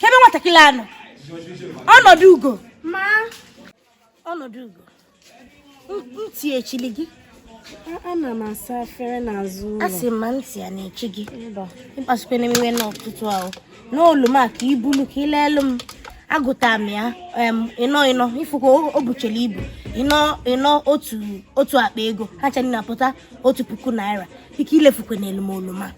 kebe nwatakịrị a nọ Ọnọdụgo ma Ọnọdụgo ntị echili gị ana m asa afere n'azụ ụlọ asị ma ntị a na-echi gị ịkpasukwene m iwe n'ụtụtụ a ne oluma ka ibulu ka ilelu m agụta m ya ịnọ ịnọ ifụkwa o buchela ibu ịnọ ịnọ otu otu akpa ego ha ncha ni na-apụta otu puku naira ike ilefukwenelu m oluma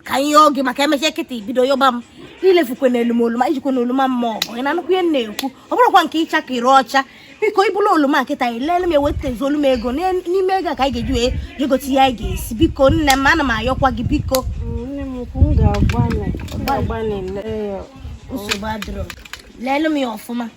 ka ihe oge maka emechaa kịta ibido yọba m ilefukwenelu m oluma ijikwana oluma m maa ọgọ ị na-anụkwu ihe na-ekwu ọ bụrụkwa nke ịchọ ka ịracha biko ibulu oluma kịta ilele m wetazuolu m ego n'ime ego ka anyị ga-eji wee jegote ihe anyị ga-esi biko nne m ana m ayọkwa gị biko nsogbu adịrọ lele m ya ọfụma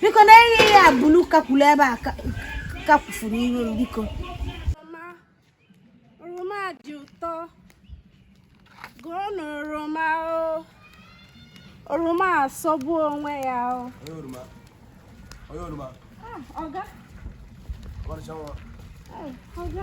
biko na ihe ya bulu kakwulu ebe a kakwufuru iru m biko oroma dị ụtọ goonụ oroma o oroma asọgbu onwe ya o ọga ọga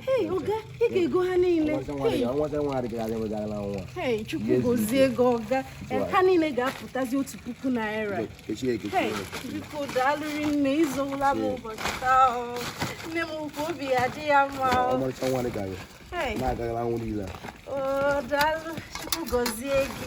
Hey, oga, ị ga-ego ha niile. Hey, Chukwu gozie gị ọga. Eh, ha niile ga-apụtazi otu puku naira. Hey, biko daalụ rinne ịzọwụla m ụbọchị taa ọ. Nne m ukwu obi ya-adị ya mma ọ. Hey. Na-agagala anwụ niile. O, daalụ, Chukwu gozie gị.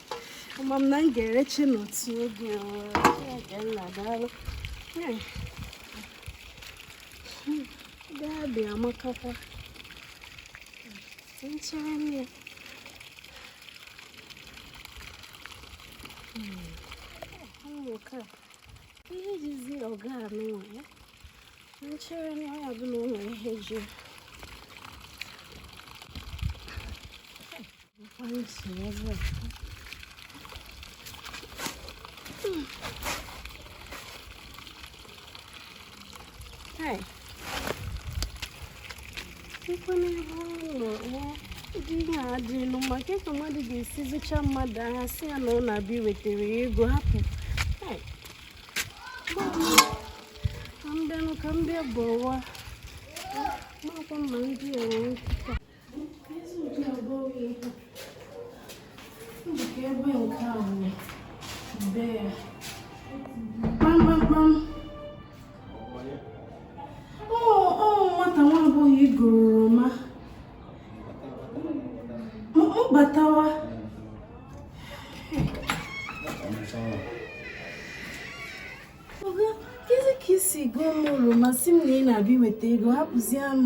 ama m na m ga-erechi n'otu oge nna daalụ gaa bịa amakakwa nchere m ya nke a ihe jizi ọga anụnwa ya nchere na ya bụ na o nwere ihe ji Hey. Chukwu n'ebe ụdị ihe a dị elu maka ka mmadụ ga-esi zụcha mmadụ ahịa si ya na ọ na-abịa iwetara ya ego hapụ ka m bịa bọwa makwa ma ndị a wee Oga, kezi ka isi goo m oroma si m na ị na-abịa iweta ego hapụzie m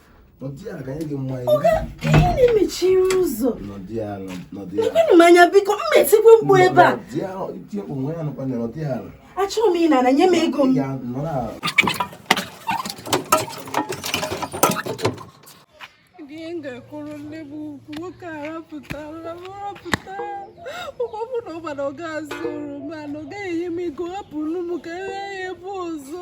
mechiri ụzọ ekwenụ m anya biko m metikwe mkpu ebe a achọrọ m ịna ana nye m ego m ga-ekwuru nne m ukwu nwoke a rapụtara m rapụta ụgbọbụ na ụgbana ọ ga-azụ oroma na ọ gaghị enye m ego hapụrụ m ka e nye ya ebe ọzọ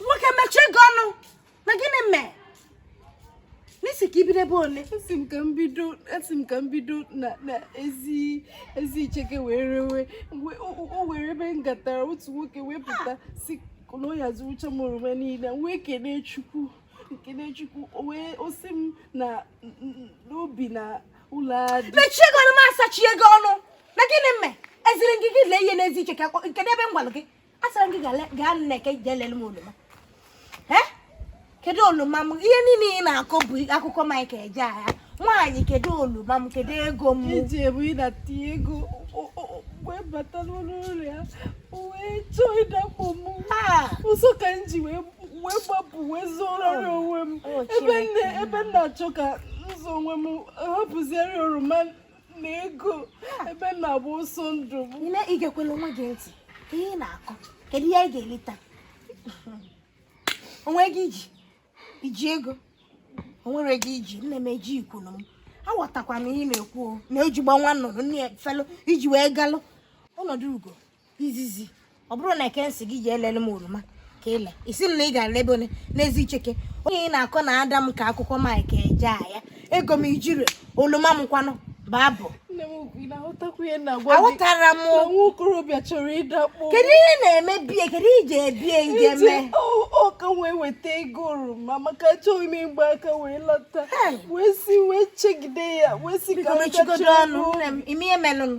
nwoke mechie gị ọnụ na gịnị mee na ị sị ka i bido ebe ole asị m ka m bido asị m ka m bido na na ezi ezi icheke wee rewe mgbe o- o- o were ebe m gatara otu nwoke wee pụta sị na ọ ya-azụrụcha m oroma niile m wee kelee chukwu m kelee chukwu o wee o sị m na n- n- n'obi na ụlọ adị mechie gị ọnụ m asachie gị ọnụ na gịnị mee eziri gị gị lee ihe n'ezi icheke akpọ- kedu ebe m gwara gị asịrị gị gaa n'eke jee lele m oroma kedu oroma m ihe niile ị na-akọ bụ akụkọ Mike Ejeagha nwaanyị kedu oroma m kedu ego m ejebu m ịnata ego wee bata n'ụlọ ụlọ ya wee chọọ ịdakpo m ọsọ ka m ji wee gbapụ wee zọọrọ onwe m ebe m na-achọ ka m zọọ onwe m hapụziere oroma na ego ebe m na-agba ọsọ ndụ m nne i gekwela onwe gị ntị ihe ị na-akọ kedu ihe ị ga-eleta o nwe ego i ji i ji ego o nwere ego i ji nne m ejighịkwanụ m aghọtakwa m ihe ị na-ekwu o na-eji agba nwa nnụnụ nne ya felu i ji wee galụ ọnọdụ ugo izizi ọ bụrọ n'eke m sị gị jee lele m oroma ka ị na-asị m na ị gara ebe ole n'ezi icheke ihe ị na-akọ na-ada m ka akụkọ mike ejeagha ego m i ji ree oroma m kwanụ babụ nne m ị na-aghọtakwa ihe m na-agwa gị aghọtara m na nwa okorobịa chọrọ ịdakpo kedu ihe ị na-eme be ya kedu ihe i je be ya ije mee ọ ka m wee weta ego oroma maka achọghị m ịgba aka wee lọta wee si wee chegide ya wee sị ka m mechigodu ọnụ ị ma ihe melụnụ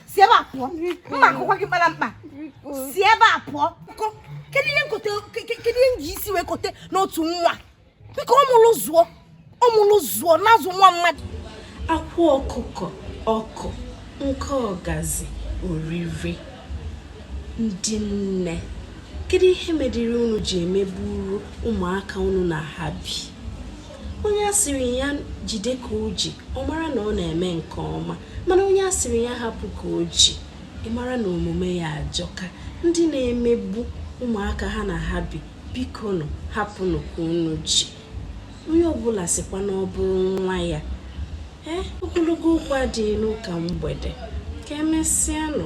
si ebe a pụọ mma akụkwa gị mara mkpa si ebe a pụọ kedu ihe m kote kedu ihe m ji isi wee kote n'otu nwa biko ọmụlụ zụọ ọmụlụ zụọ na-azụ nwa mmadụ akwa ọkụkọ ọkụ nke ọgazi oriri ndị nne kedu ihe mediri unu ji emegburu ụmụaka unu na ha bi onye a sịrị ya jide ka o ji ọ mara na ọ na-eme nke ọma mana onye a sịrị ya hapụ ka o ji ị mara na omume ya ajọka ndị na-emegbu ụmụaka ha na ha bi bikonụ hapụnụ ka unu ji onye ọbụla sịkwa na ọ bụrụ nwa ya ee eh, ogologo okwu adịghị n'ụka mgbede ka emesịanụ